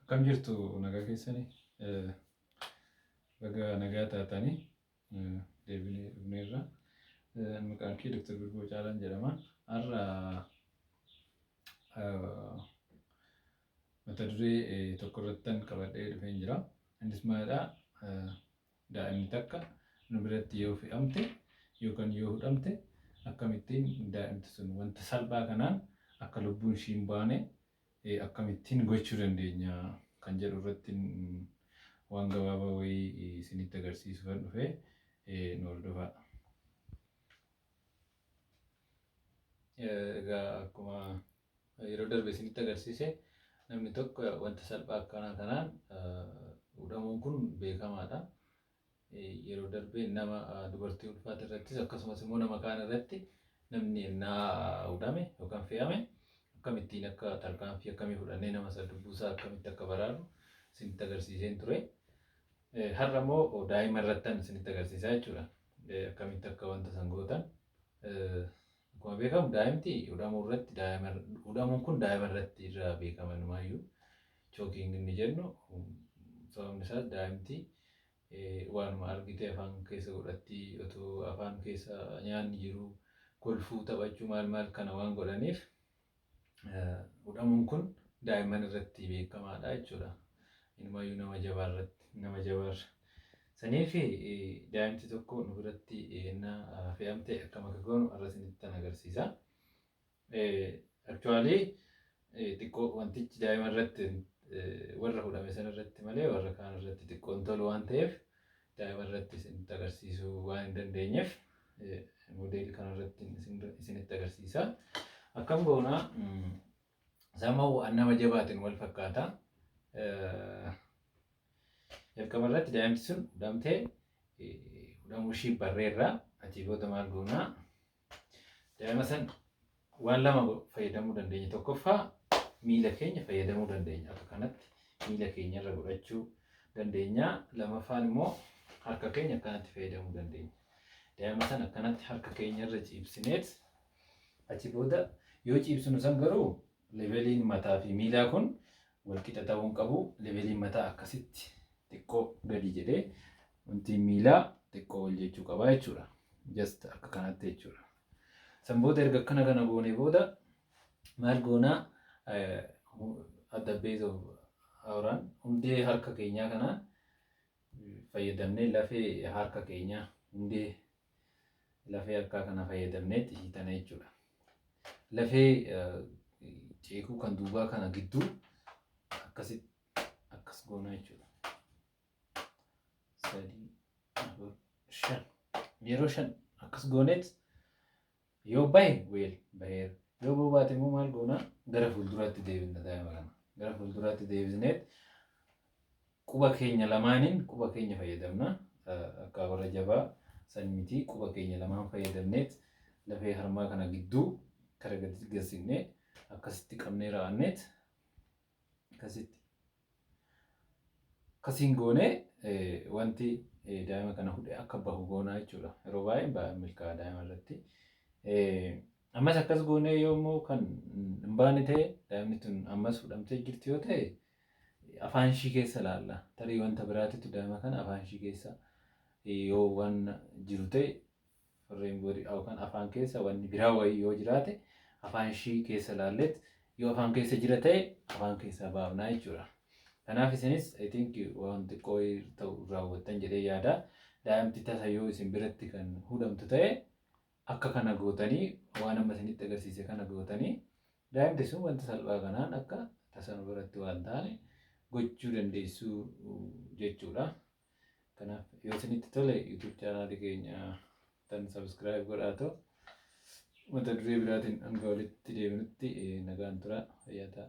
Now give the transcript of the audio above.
Akkam jirtu nagaa keessani baga nagaa taatani deebinee dhufneerra. Maqaan kee Dr. Birboo Caalaan jedhama. Har'a mata duree tokko irrattan qabadhee dhufeen jira. Innis maalidha? Daa'imni takka nu biratti yoo fe'amte yookan yoo hudhamte akkamittiin daa'imti sun wanta salphaa kanaan akka lubbuun ishii hin baane akkamittiin gochuu dandeenya kan jedhu irrattin waan gabaabaa wayii isinitti agarsiisuufan dhufe nu hordofaa. Egaa akkuma Yeroo darbe isinitti agarsiise namni tokko wanta salphaa akkanaa kanaan hudhamuun kun beekamaadha. Yeroo darbe nama dubartii ulfaate irrattis akkasumas immoo nama kaan irratti namni ennaa hudhame yookaan fe'ame akkamittiin akka tarkaanfii akkamii fudhannee nama sana lubbuusaa akkamitti akka baraarru isinitti agarsiiseen ture. Har'a immoo daa'ima irrattan isinitti agarsiisaa jechuudha. Akkamitti akka wanta san gootan Akkuma beekamu daa'imti hudhamuu irratti daa'ima hudhamuun kun daa'ima irratti irraa beekama numaayyuu chookiing inni jennu sababni isaas daa'imti waanuma argitee afaan keessa godhatti otoo afaan keessa nyaanni jiru kolfuu taphachuu maal maal kana waan godhaniif hudhamuun kun daa'imman irratti beekamaadha jechuudha. Inumaayyuu nama jabaa irratti nama jabaarra. Sanii fi daa'imti tokko nu biratti ennaa fe'amte akkam akka goonu har'a isinitti nan agarsiisa. Aktuwaalii xiqqoo wantichi daa'ima irratti warra hudhame sana irratti malee warra kaan irratti xiqqoon tolu waan ta'eef daa'ima irratti isinitti agarsiisuu waan hin dandeenyeef modeeli kana irratti isinitti agarsiisa. Akkam goona sama waan nama jabaatiin wal fakkaata. Jalqaba irratti daa'imti sun hudhamtee hudhamuu ishii barreerra achii booda maal goonaa? Daa'ima san waan lama fayyadamuu dandeenya. Tokkoffaa miila keenya fayyadamuu dandeenya. Akka kanatti miila keenya irra godhachuu dandeenya. Lamaffaan immoo harka keenya akkanatti fayyadamuu dandeenya. Daa'ima san akkanatti harka keenya irra ciibsineet achi booda yoo ciibsinu san garuu Leveliin mataa fi miilaa kun wal qixa ta'uu hin qabu. Leveliin mataa akkasitti xiqqoo gadi jedhee wantiin miilaa xiqqoo ol jechuu qaba jechuudha. Just akka kanatti jechuudha. San booda erga akkana kana goonee booda maal goonaa at the base of our hand hundee harka keenyaa kanaan fayyadamnee lafee harka keenyaa hundee lafee harkaa kana fayyadamnee xishiitana jechuudha. Lafee ceekuu kan duubaa kana gidduu akkasitti akkas goona jechuudha. Sadii, afur, shan. Yeroo shan akkas gooneet Yoo bahe weel baheera. Yoo bahuu baate immoo maal goona? Gara fuulduraatti deebinna daa'ima kana. Gara fuulduraatti deebisneet quba keenya lamaaniin quba keenya fayyadamna. Akka warra jabaa san miti quba keenya lamaan fayyadamneet lafee harmaa kana gidduu kara gadi gassignee akkasitti qabnee raa'anneet Akkasitti. Akkasiin goonee wanti daa'ima kana hudhee akka bahu goonaa jechuudha. Yeroo baay'ee hin milkaa'a daa'ima irratti. Ammas akkas goonee yoo immoo kan hin baane ta'e daa'imni tun ammas hudhamtee jirti yoo ta'e afaan ishii keessa ilaalla. Tarii wanta biraatitu daa'ima kana afaan ishii keessa yoo waan jiru ta'e Warreen booda yookaan afaan keessa wanni biraa wayii yoo jiraate afaan ishii keessa laalleet yoo afaan keessa jira ta'e afaan keessaa baafnaa jechuudha. Kanaaf isinis I think waan xiqqoo wayii ta'u raawwattan jedhee yaada. Daa'imti tasa yoo isin biratti kan hudhamtu ta'e akka kana gootanii waan amma isinitti agarsiise kana gootanii daa'imti sun wanta salphaa kanaan akka tasa nu biratti waan taane gochuu dandeessuu jechuudha. Kanaaf yoo isinitti tole YouTube chaanaali keenya tan subscribe godhaa ta'u mata duree biraatiin hanga walitti deebinutti nagaan tura fayyaa ta'a.